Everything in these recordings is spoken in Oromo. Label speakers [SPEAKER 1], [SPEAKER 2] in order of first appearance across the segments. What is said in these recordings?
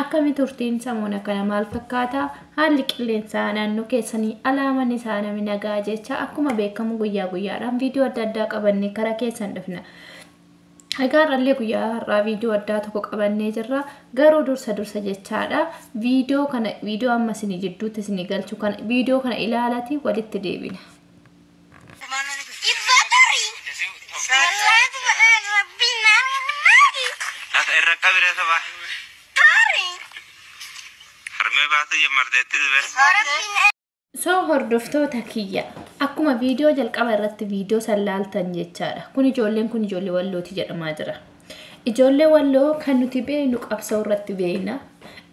[SPEAKER 1] Akkami turtiin samoona kana maal fakkaata? Haalli qilleensaa naannoo keessanii alaa manni isaa nami nagaa jecha akkuma beekamu guyyaa guyyaadhaan viidiyoo adda addaa qabannee karaa keessan dhufna. Egaa har'allee guyyaa har'aa viidiyoo addaa tokko qabannee jirra. Garuu dursa dursa jechaadha. Viidiyoo kana viidiyoo amma isinii jidduutti isinii galchu kana viidiyoo kana ilaalati walitti deebina. Lafa irra qabire saba. Harmee baatee jammarteetti dibee. So hordoftoota kiyya akkuma viidiyoo jalqaba irratti viidiyoo san laaltan jechaadha. Kun ijoolleen kun ijoollee wallooti jedhamaa jira. Ijoollee Walloo kan nuti beeknu qabsoo irratti beekna.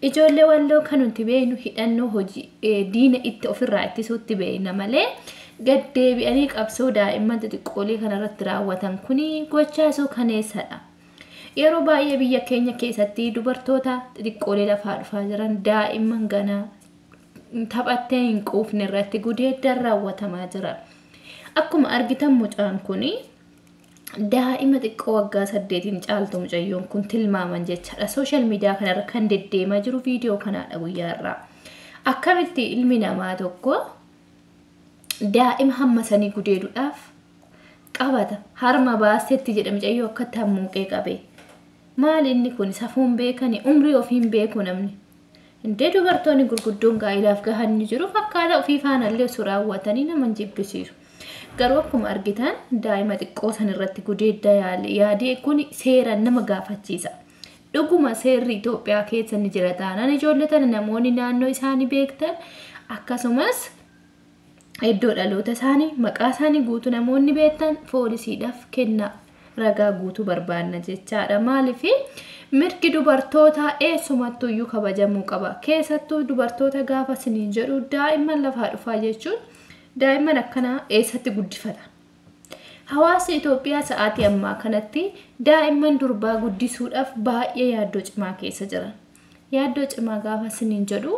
[SPEAKER 1] Ijoollee Walloo kan nuti beeknu hidhannoo hojii eh, diina itti ofirraa ittisuutti beekna malee gaddeebi'anii qabsoo daa'imman xixiqqoolee kana irratti raawwatan kuni gochaa suukaneessadha. Yeroo baay'ee biyya keenya keessatti dubartoota xixiqqoolee lafaa dhufaa jiran daa'imman ganaa taphattee hin quufne irratti gudeeddaan raawwatamaa jira. Akkuma argitan mucaan kuni Daa'ima xiqqoo waggaa saddeetiin caaltu mucayyoon kun tilmaaman jechaadha. Sooshaal miidiyaa kanarra kan deddeemaa jiru viidiyoo kanaadha guyyaa irraa. Akkamitti ilmi namaa tokko daa'ima hamma sanii gudeeduudhaaf qabata. Harma baastetti jedha mucayyoo akkatti hammuuqee qabe. Maali inni kun safuun beekani umrii ofiin beeku namni. Indee dubartooni gurguddoon gaa'ilaaf gahan ni jiru fakkaata ofii faana illee osoo raawwatanii nama hin jibbisiisu. Garuu akkuma argitan daa'ima xiqqoo san irratti gudeedda yaale yaadee kuni seeraan nama gaafachiisa. Dhuguma seerri Itoophiyaa keessa ni jira taanaan ijoollee tana namoonni naannoo isaanii beektan akkasumas Iddoo dhaloota isaanii, maqaa isaanii guutuu namoonni beektan poolisiidhaaf kennaa. Ragaa guutuu barbaanna jechaadha. Maaliif mirgi dubartootaa eessumattuu iyyuu kabajamuu qaba. Keessattuu dubartoota gaafa isiniin jedhu daa'imman lafaa dhufaa jechuun daa'imman akkanaa eessatti guddifata. Hawaasni Itoophiyaa sa'aatii ammaa kanatti daa'imman durbaa guddisuudhaaf baay'ee yaaddoo cimaa keessa jira. Yaaddoo cimaa gaafa isiniin jedhu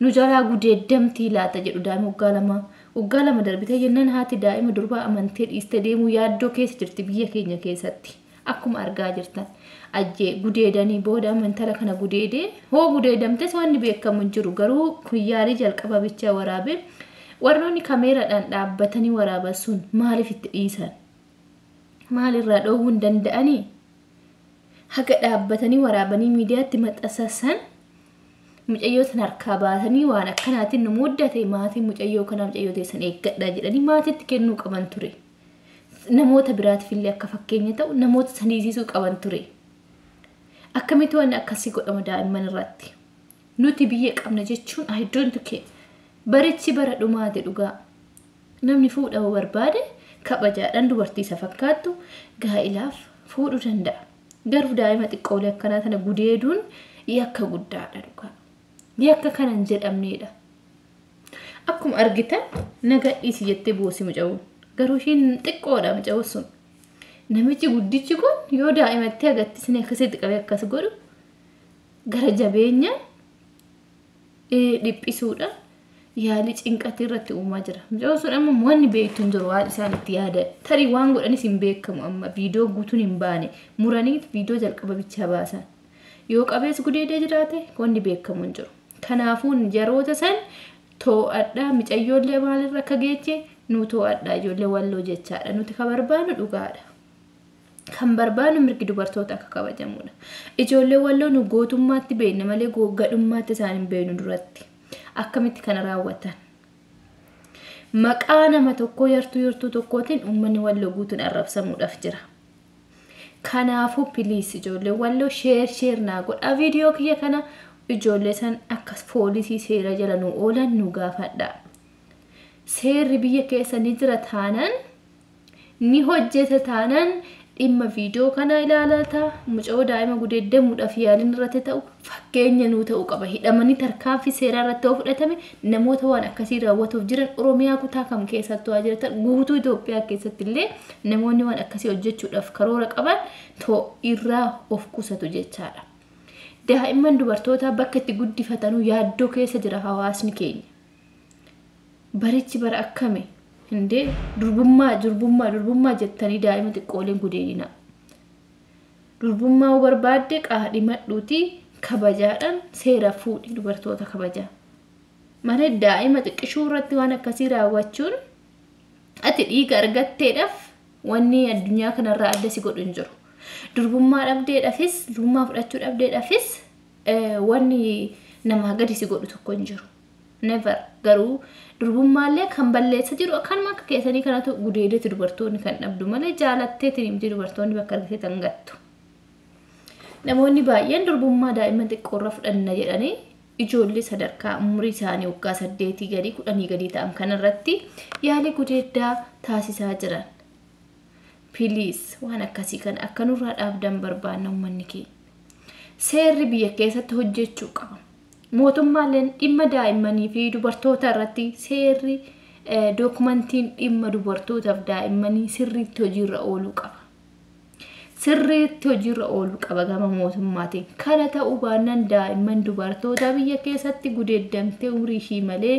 [SPEAKER 1] nu jalaa gudeeddamtii laata jedhu daa'ima waggaa lamaa. Waggaa lama darbitee jennaan haati daa'ima durbaa amantee dhiistee deemuu yaaddoo keessa jirti biyya keenya keessatti. Akkuma argaa jirtan. Ajjee gudeedanii booda amma intala kana gudeedee hoo gudeedamtes wanni beekamu hin jiru garuu kun yaalii jalqaba bichaa waraabee warroonni kameeraadhaan dhaabbatanii waraaban sun maaliif itti dhiisan? Maalirraa dhoowwuu hin danda'anii? Haga dhaabbatanii waraabanii miidiyaatti maxxansan mucayyoo san harkaa baasanii waan akkanaatiin nu muddate maatii mucayyoo kanaa mucayyoo teessan eeggadhaa jedhanii maatiitti kennuu qaban ture. Namoota biraatiif illee akka fakkeenya ta'u namoota san hiisisuu qaban ture. Akkamitti waan akkasii godhama daa'imman irratti. Nuti biyya qabna jechuun I don't care. Barichi bara dhumaate dhugaa. Namni fuudhama barbaade kabajaadhaan dubartii isa fakkaattu gaa'ilaaf fuudhuu danda'a. Garuu daa'ima xiqqoolee akkanaa tana gudeeduun yakka guddaadha dhugaa. Yakka kana hin jedhamneedha. Akkuma argitan naga dhiisi jettee boosi muca'uun. Garuu ishiin xiqqoodha muca'uun sun. Namichi guddichi kun yoo daa'imatti agattisni akkasitti qabee akkas godhu gara jabeenyaan dhiphisuudhaan yaalii cinqatii irratti uumaa jira. Mucaan sun amma wanni beektu hin jiru waan isaan itti yaada. Tarii waan godhanis hin beekamu amma viidiyoo guutuun hin baane muraniit viidiyoo jalqaba bichaa baasan. Yoo qabees gudeedee jiraate wanni beekamu hin jiru. Kanaafuu yeroota san too'adhaa micayyoollee maalirra akka geeche nu too'adhaa ijoollee walloo jechaadha. Nuti ka barbaannu dhugaadha. Kan barbaadnu mirgi dubartoota akka kabajamuudha. Ijoollee walloo nu gootummaatti beekna malee go- gadhummaatti isaan hin beeknu duratti. Akkamitti kana raawwatan? Maqaa nama tokkoo yartuu yartuu tokkootiin uummanni walloo guutuun arrabsamuudhaaf jira. Kanaafuu piliis ijoollee walloo sheer sheer naa godhaa viidiyoo kiyya kana ijoollee san akka poolisii seera jala nu oolan nu gaafadhaa. Seerri biyya keessa ni jira taanaan Ni hojjeta taanaan dhimma viidiyoo kanaa ilaalaata. Mucayoo daa'ima gudeeddamuudhaaf yaaliin irratti ta'u fakkeenya nuu ta'u qaba. Hidhamanii tarkaanfii seeraa irratti yoo fudhatame namoota waan akkasii raawwatuuf jiran Oromiyaa kutaa kam keessattuu haa jiratan guutuu Itoophiyaa keessatti illee namoonni waan akkasii hojjechuudhaaf karoora qaban too irraa of qusatu jechaadha. Daa'imman dubartootaa bakka itti guddifatanuu yaaddoo keessa jira hawaasni keenya. Barichi bara akkami? Hindee durbummaa durbummaa durbummaa jettanii daa'ima xiqqooleen gudeedina. Durbummaa yoo barbaadde qaadhimadhuuti kabajaadhaan seera fuudhi dubartoota kabajaa. Malee daa'ima xiqqishuu irratti waan akkasii raawwachuun ati dhiiga argatteedhaaf wanni addunyaa kanarraa adda si godhu hin jiru. Durbummaa dhabdeedhaafis durbummaa fudhachuu dhabdeedhaafis wanni namaa gadi si godhu tokko hin jiru. never garuu durbummaallee kan balleessa jiru akkanuma akka keessanii kanatu gudeedeetu dubartoonni kan dhabdu malee jaalatteetiin miti dubartoonni bakka argitee tan gattu. Namoonni baay'een durbummaa daa'imman xiqqoorra fudhanna jedhanii ijoollee sadarkaa umurii isaanii waggaa saddeetii gadii kudhanii gadii ta'an kanarratti yaalii gudeeddaa taasisaa jiran. Piliis waan akkasii kana akka nurraa dhaabdan barbaanna uummanni keenya. Seerri biyya keessatti hojjechuu qaba. Mootummaalleen dhimma daa'immanii fi dubartootaa irratti seerri dookumantiin dhimma dubartootaa fi daa'immanii sirriitti hojiirra ooluu qaba. Sirriitti hojiirra ooluu qaba gama mootummaatiin. Kana ta'uu baannaan daa'imman dubartootaa biyya keessatti gudeeddamtee umrii ishii malee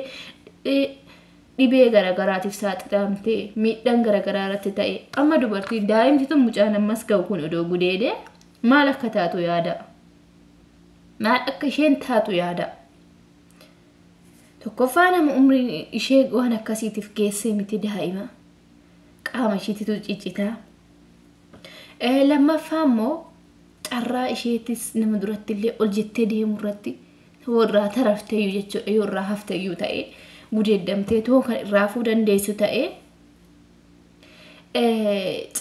[SPEAKER 1] dhibee garaagaraatiif saaxilamtee miidhaan garaagaraa irratti ta'e amma dubartiin daa'imti tun mucaan ammas ga'u kun odoo gudeedee maal akka taatu yaada. maal akka isheen taatu yaadaa. Tokkoffaa nama umriin ishee waan akkasiitiif geessee miti daa'ima. Qaama isheetitu ciccitaa. Eh, Lammaffaa immoo carraa isheetis nama duratti illee ol jettee deemu irratti yoo irraa tarafteyyuu jechuudha yoo irraa hafteyyuu ta'ee gudeeddamtee too kan irraa hafuu dandeessu ta'ee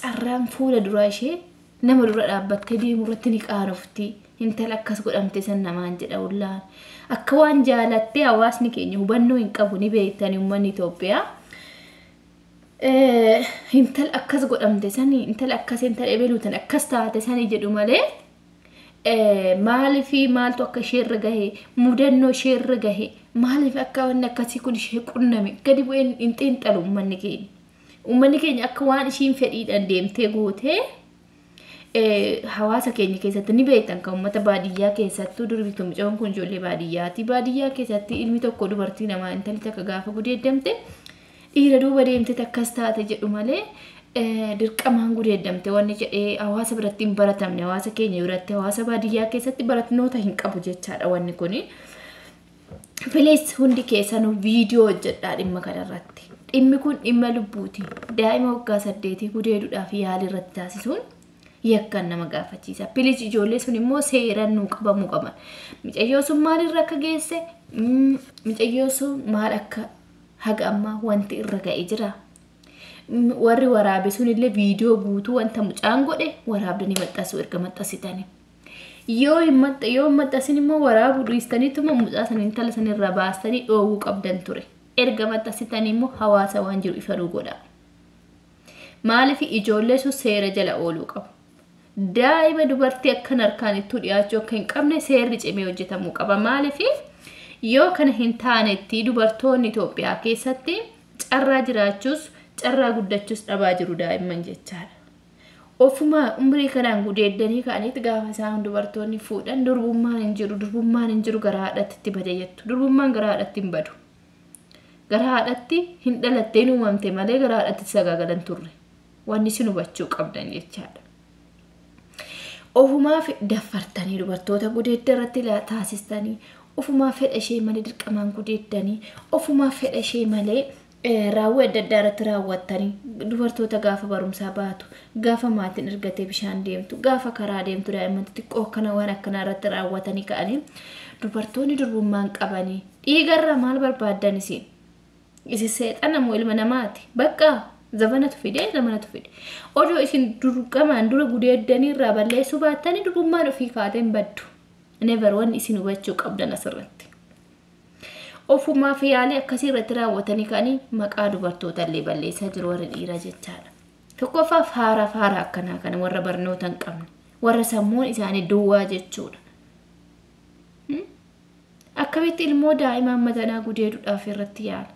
[SPEAKER 1] carraan fuula duraa ishee nama dura dhaabbattee deemu irratti ni qaanofti. Intala akkas godhamte san namaan jedha ullaan. Akka waan jaalattee hawaasni keenya hubannoo hin qabu ni beektani uummanni Itoophiyaa. Intala akkas godhamte sani intala akkas intala ebeluutan akkas taate sani jedhu malee maaliif maaltu akka ishee irra gahe mudannoo ishee irra gahe maaliif akka wanni akkasii kun ishee qunname gadi bu'een hin xiinxalu uummanni keenya. Uummanni keenya akka waan ishiin fedhiidhaan deemtee gootee hawaasa keenya keessatti ni beektan kan uummata baadiyyaa keessattuu durbitu mucoon kun ijoollee baadiyyaati. Baadiyyaa keessatti ilmi tokko dubartii namaa intalli takka gaafa gudeeddamte Dhiira duuba deemteeti akkas taate jedhu malee dirqamaan gudeeddamte wanni jedhee hawaasa biratti hin baratamne hawaasa keenya biratti hawaasa baadiyyaa keessatti baratnoota hin qabu jechaadha wanni kuni. Please hundi keessanuu viidiyoo hojjedhaa dhimma kanarratti. Dhimmi kun dhimma lubbuuti. Daa'ima waggaa saddeetii gudeeduudhaaf yaalii irratti taasisuun yakkaan nama gaafachiisa. Please ijoollee sun immoo seeraan nuu qabamuu qaban. Micayyoo sun maalirra akka geesse, mm, micayyoo sun maal akka Haga ammaa wanti irra ga'e jira. M- Warri waraabe sunillee viidiyoo guutuu wanta mucaan godhe waraabdanii maxxansuu erga maxxansitanii. Yoo hin maxxa- yoo hin maxxansin immoo waraabuu dhiistaniituma mucaa sana intala sana irraa baastanii dhoowwuu qabdan ture. Erga maxxansitanii immoo hawaasa waan jiru ifa nuu godhaa. Maaliif ijoollee sun seera jala ooluu qabu. Daa'ima dubartii akkan harkaan ittuu dhiyaachuu akka hin qabne seerri cimee hojjetamuu qaba. Maaliif yoo kana hin taanetti dubartoonni Itoophiyaa keessatti carraa jiraachuus carraa guddachuus dhabaa jiru daa'imman jechaadha. Ofuma umrii kanaan gudeeddanii ka'aniit gaafa isaan dubartoonni fuudhan durbummaan hin jiru durbummaan hin jiru gara haadhatti itti bade jettu. Durbummaan gara haadhatti hin badu. Gara haadhatti hin dhalatte hin uumamte malee gara haadhatti sagaagalan turre. Wanni isin hubachuu qabdan jechaadha. Ofumaaf daffartanii dubartoota gudeedda irratti la- taasistanii ofumaaf fedha ishee malee dirqamaan gudeeddanii ofumaaf fedha ishee malee eh, raawwii adda addaa irratti raawwattanii dubartoota gaafa barumsaa baatu gaafa maatiin ergatee bishaan deemtu gaafa karaa deemtu daa'imman xixiqqoo akkana waan akkanaa irratti raawwatanii ka'anii dubartoonni durbummaan qabanii dhiigarraa maal barbaaddan isin Isi seexana moo ilma namaati? Bakka zabanatu fide, zamanatu fide. Odoo isin durqamaan dura gudeeddanii irraa balleessuu baattanii durummaan ofii kaatee hin baddu. Never wanni isin hubachuu qabdan asirratti. Ofumaaf yaalii akkasii irratti raawwatanii ka'anii maqaa dubartoota illee balleessaa jiru warri dhiiraa jechaadha. Tokkoffaa faaraa faaraa akkanaa kana warra barnoota hin qabne, warra sammuun isaanii duwwaa jechuudha. Akkamitti ilmoo daa'imaa madanaa gudeeduudhaaf irratti yaala.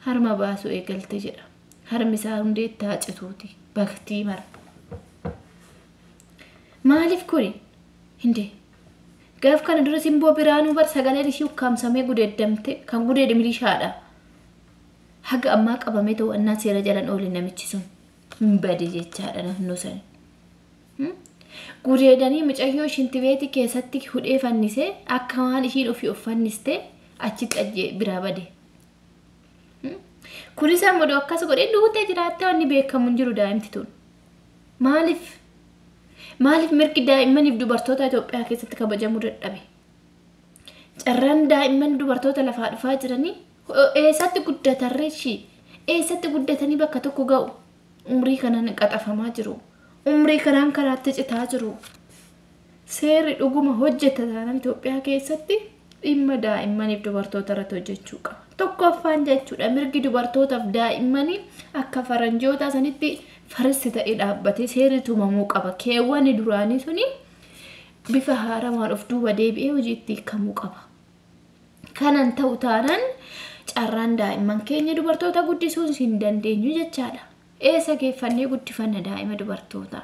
[SPEAKER 1] Harma baasuu eegalte jedha. Harmi isaa hundeetti haa cituuti. Baktii mara. Maaliif kuni? Hindee. Gaaf kana dura simboo biraanuu bar sagaleen ishii ukkaamsamee gudeeddamte kan gudeede milishaadha. Haga ammaa qabamee to'annaa seera jalan oole namichi sun. Hin bade jechaadha naannoo sani. Gudeedanii mucayyoo shintibeeti keessatti hudhee fannisee akka waan ishiin ofii of fannistee achitti ajjee biraa bade. Kunis ammoo odoo akkas godhee duutee jiraattee wanni beekamu hin jiru daa'imti tun. Maaliif? Maaliif mirgi daa'immaniif dubartoota Itoophiyaa keessatti kabajamuu dadhabe? Carraan daa'imman dubartoota lafaa dhufaa jiranii eessatti guddatarree ishii? Eessatti guddatanii bakka tokko ga'u? Umrii kanaan qaxafamaa jiru. Umrii kanaan karaatti citaa jiru. Seerri dhuguma hojjeta taanaan Itoophiyaa keessatti dhimma daa'immaniif dubartoota irratti hojjechuu qaba. Tokkoffaan jechuudha mirgi dubartootaaf daa'immanii akka faranjootaa sanitti faristi ta'ee dhaabbatee seerri tumamuu qaba. Keewwanni duraanii suni bifa haarawaan of duuba deebi'ee hojiitti hiikamuu qaba. Kanan ta'u taanan carraan daa'imman keenya dubartoota guddisuun hin dandeenyu jechaadha. Eessa geeffannee guddifanna daa'ima dubartoota?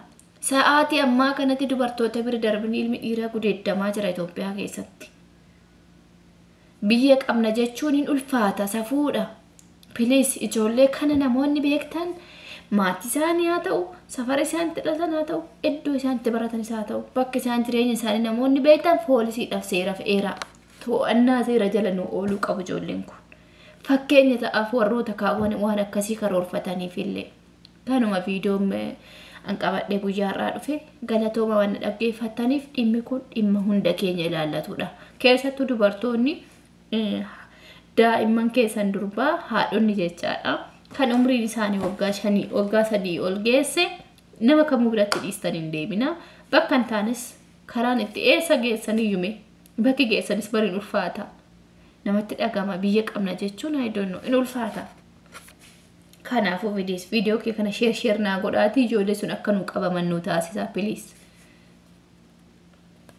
[SPEAKER 1] Sa'aatii ammaa kanatti dubartoota bira darbinii ilmi dhiiraa gudeeddamaa jira Itoophiyaa keessatti. Biyya qabna jechuun hin ulfaata safuudha. Please ijoollee kana namoonni beektan maatii isaanii haa ta'u, safara isaan itti dhalatan haa ta'u, iddoo isaan itti baratanis haa ta'u, bakka isaan jireenya isaanii namoonni beektan poolisiidhaaf seeraaf eeraa. To'annaa seera jala nu ooluu qabu ijoolleen kun. Fakkeenya ta'aaf warroota kaawwan waan akkasii karoorfataniif illee. Kanuma viidiyoon eh, an qabadhee guyyaa har'aa dhufe galatooma waan na dhaggeeffattaniif dhimmi kun dhimma hunda keenya ilaallatudha. Keessattuu dubartoonni Daa'imman keessan durbaa haadhonni jechaadha. Kan umriin isaanii waggaa shanii waggaa sadii ol geesse nama kamuu biratti dhiistan hin deebina. Bakka hin taanes karaan itti eessa geessan iyyume bakki geessanis bari hin ulfaata. Namatti dhagama biyya qabna jechuun I don't know in ulfaata. Kanaafuu vidiyoos viidiyoo kee kana sheer sheer naa godhaatii ijoollee sun akka nu qabaman nu taasisaa piliis.